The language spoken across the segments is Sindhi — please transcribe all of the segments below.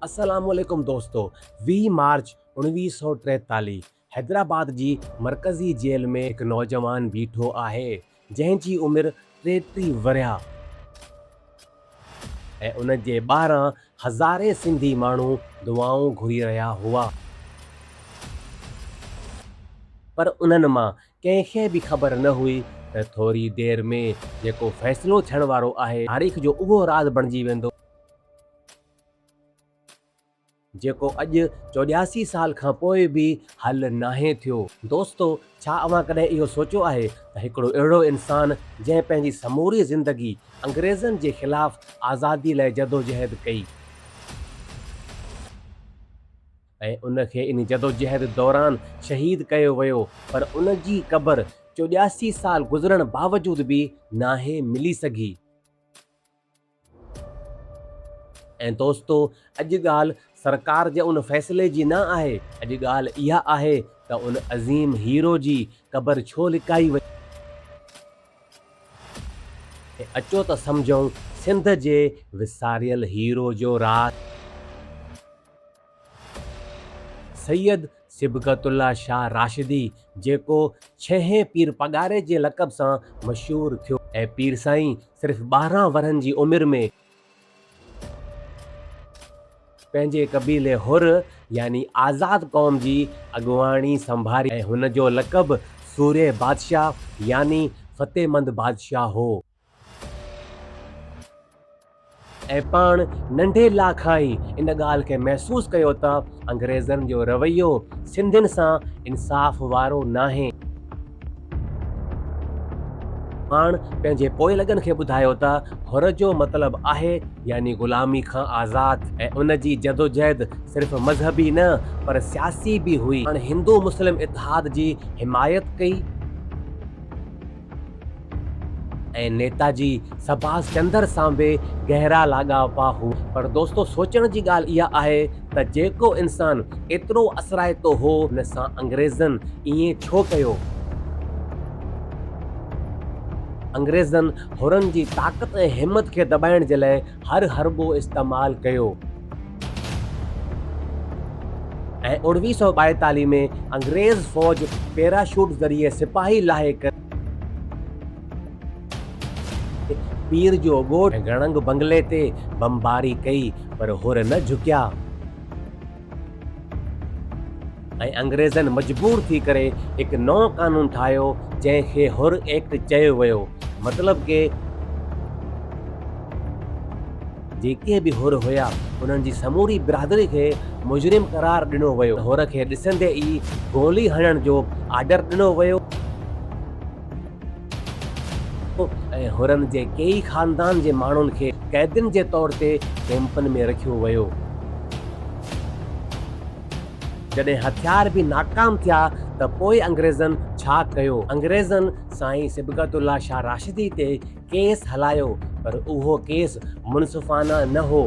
السلام عليڪم دوستو ويهه مارچ اوڻويهه سؤ ٽيتاليهه حيدرآباد جي مرڪزي جيل ۾ هڪ نوجوان بيٺو آهي جنهن جي عمر ٽيٽيهه ورهيا ۽ ان جي ٻاهران هزارين سنڌي ماڻهو دعائون گهري رهيا هئا پر انهن مان ڪنهن کي به خبر نه هئي ته ٿوري دير ۾ جيڪو فيصلو ٿيڻ وارو آهي، تاريخ جو اهو راز بڻجي ويندو، جيڪو اڄ چوڏهاسي سال کان پوء به حل ناهي ٿيو. دوستو! ڇا اوهان ڪڏهن اهو سوچيو آهي ته هڪڙو اهڙو انسان، جنهن پنهنجي سموري زندگي انگريزن جي خلاف آزادي لاء جدوجهد ڪئي، ۽ ان کي ان جدوجهد دوران شهيد ڪيو ويو پر ان جي قبر چوڏياسي سال گذرڻ باوجود به ناهي ملي سگهي. ۽ دوستو اڄ ڳالهه سرڪار جي ان فيصلي جي نه آهي اڄ ڳالهه اها آهي ته ان عظيم هيرو جي قبر ڇو لڪائي وئي. ۽ اچو ته سمجهون سنڌ جي وساريل هيرو جو راز. سيد صبغت الله شاهه راشدي جيڪو ڇهين پير پڳاري جي لقب سان مشهور ٿيو. اهي پير سائين صرف ٻارهن ورهن جي عمر ۾ پنهنجي قبيلي حر يعني آزاد قوم جي اڳواڻي سنڀاري ۽ هن جو لقب سورهيه بادشاهه يعني فتحمند بادشاهه هو. ۽ پاڻ ننڍي لا کان ئي ان ڳالهه کي محسوس ڪيو ته انگريزن جو رويو سنڌين سان انصاف وارو ناهي. پاڻ پنهنجي پوئلڳن کي ٻڌايو ته حر جو مطلب آهي يعني غلامي کان آزاد ۽ ان جي جدوجهد صرف مذهبي نه پر سياسي به هئي. پاڻ هندو مسلم اتحاد جي حمايت ڪئي. ۽ نيتاجي سڀاس چندر سان به گهرا لاڳاپا هئا. پر دوستو سوچڻ جي ڳالهه اها آهي ته جيڪو انسان ايترو اثرائتو هو ان سان انگريزن ائين ڇو ڪيو؟ انگريزن حرن جي طاقت ۽ همت کي دٻائڻ جي لاء هر حربو استعمال ڪيو. ۽ اوڻويهه سؤ ٻائيتاليهه ۾ انگريز فوج پيراشوٽ ذريعي سپاهي لاهي ڪري پير جو ڳوٺ ۽ گڻنگ بنگلي تي بمباري ڪئي پر حر نه جهڪيا. ۽ انگريزن مجبور ٿي ڪري هڪ نئون قانون ٺاهيو جنهن کي حر ايڪٽ چيو ويو مطلب ڪي جيڪي به حر هيا انهن جي سموري برادري کي مجرم قرار ڏنو ويو حر کي ڏسندي ئي گولي هڻڻ جو آرڊر ڏنو ويو. ۽ حرن جي ڪيئي خاندان جي ماڻهن کي قيدين جي طور تي ڪئمپن ۾ رکيو ويو. جڏهن هٿيار به ناڪام ٿيا ته پوء انگريزن ڇا ڪيو؟ انگريزن سائين صبغت الله شاهه راشدي تي ڪيس هلايو پر اهو ڪيس منصفانه نه هو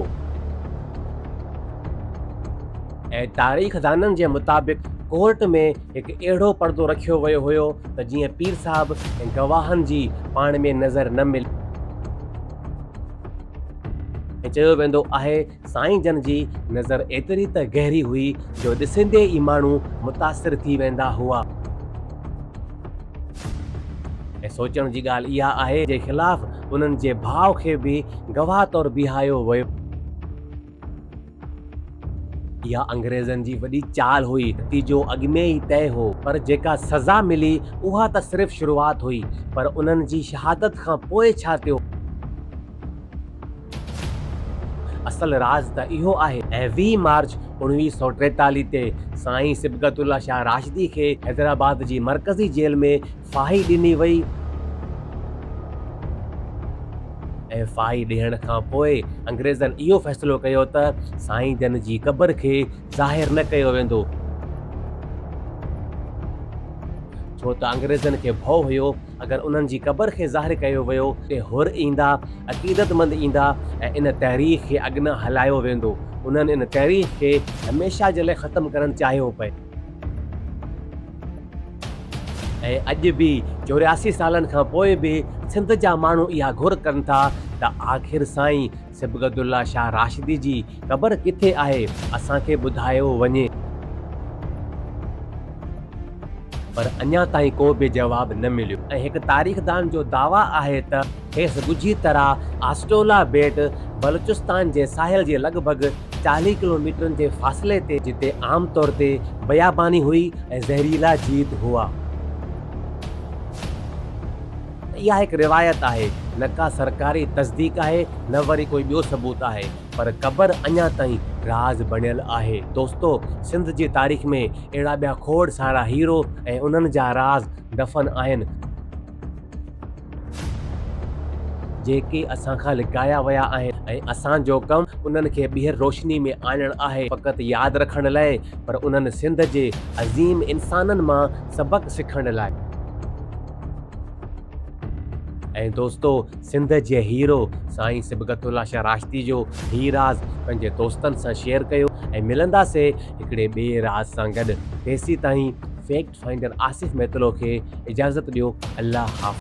۽ تاريخدانن جي مطابق ڪورٽ ۾ هڪ اهڙو پڙدو رکيو ويو هيو ته جيئن پير صاحب ۽ گواهن جي پاڻ ۾ نظر نه ملي. ۽ چيو ويندو آهي سائين جن جي نظر ايتري ته گهري هئي جو ڏسندي ئي ماڻهو متاثر ٿي ويندا هئا. ۽ سوچڻ جي ڳالهه اها آهي جي خلاف انهن جي ڀاء کي به گواهه طور بيهايو ويو. اها انگريزن جي وڏي چال هئي، نتيجو اڳ ۾ ئي طئي هو، پر جيڪا سزا ملي اها ته صرف شروعات هئي، پر انهن جي شهادت کان پوء ڇا ٿيو؟ اصل راز ته اهو آهي ۽ ويهه مارچ اوڻويهه سؤ ٽيتاليهه تي سائين صبغت الله شاهه راشدي کي حيدرآباد جي مرڪزي جيل ۾ ڦاهي ڏني وئي ۽ ڦاهي ڏيڻ کان پوء انگريزن اهو فيصلو ڪيو ته سائين جن جي قبر کي ظاهر نه ڪيو ويندو ڇو ته انگريزن کي ڀؤ هيو اگر انهن جي قبر کي ظاهر ڪيو ويو ته حر ايندا، عقيدتمند ايندا ۽ ان تحريڪ کي اڳنا هلايو ويندو. انهن ان تحريڪ کي هميشه جي لاء ختم ڪرڻ چاهيو پئي. ۽ اڄ به چورياسي سالن کان پوء به سنڌ جا ماڻهو اها گهر ڪن ٿا ته آخر سائين صبغت الله شاهه راشدي جي قبر ڪٿي آهي اسان کي ٻڌايو وڃي. پر اڃا تائين ڪو به جواب نه مليو ۽ هڪ تاريخدان جو دعويٰ آهي ته. کيس ڳجهي طرح آسٽولا ٻيٽ بلوچستان جي ساحل جي لڳ ڀڳ چاليهه ڪلوميٽرن جي فاصلي تي جتي عام طور تي بياباني هئي ۽ زهريلا جيت هئا. اها هڪ روايت آهي، نه ڪا سرڪاري تصديق آهي نه وري ڪوئي ٻيو ثبوت آهي، پر قبر اڃا تائين راز بڻيل آهي. دوستو! سنڌ جي تاريخ ۾ اهڙا ٻيا کوڙ سارا هيرو ۽ انهن جا راز دفن آهن. جيڪي اسان کان لڪايا ويا آهن ۽ اسان جو ڪم انهن کي ٻيهر روشني ۾ آڻڻ آهي فقط ياد رکڻ لاء پر انهن سنڌ جي عظيم انسانن مان سبق سکڻ لاء. ۽ دوستو سنڌ جي هيرو سائين صبغت الله شاهه راشدي جو هي راز پنهنجي دوستن سان شيئر ڪيو ۽ ملنداسي هڪڙي ٻئي راز سان گڏ تيسيتائين فيڪٽ فائنڊر آصف ميتلو کي اجازت ڏيو الله حافظ.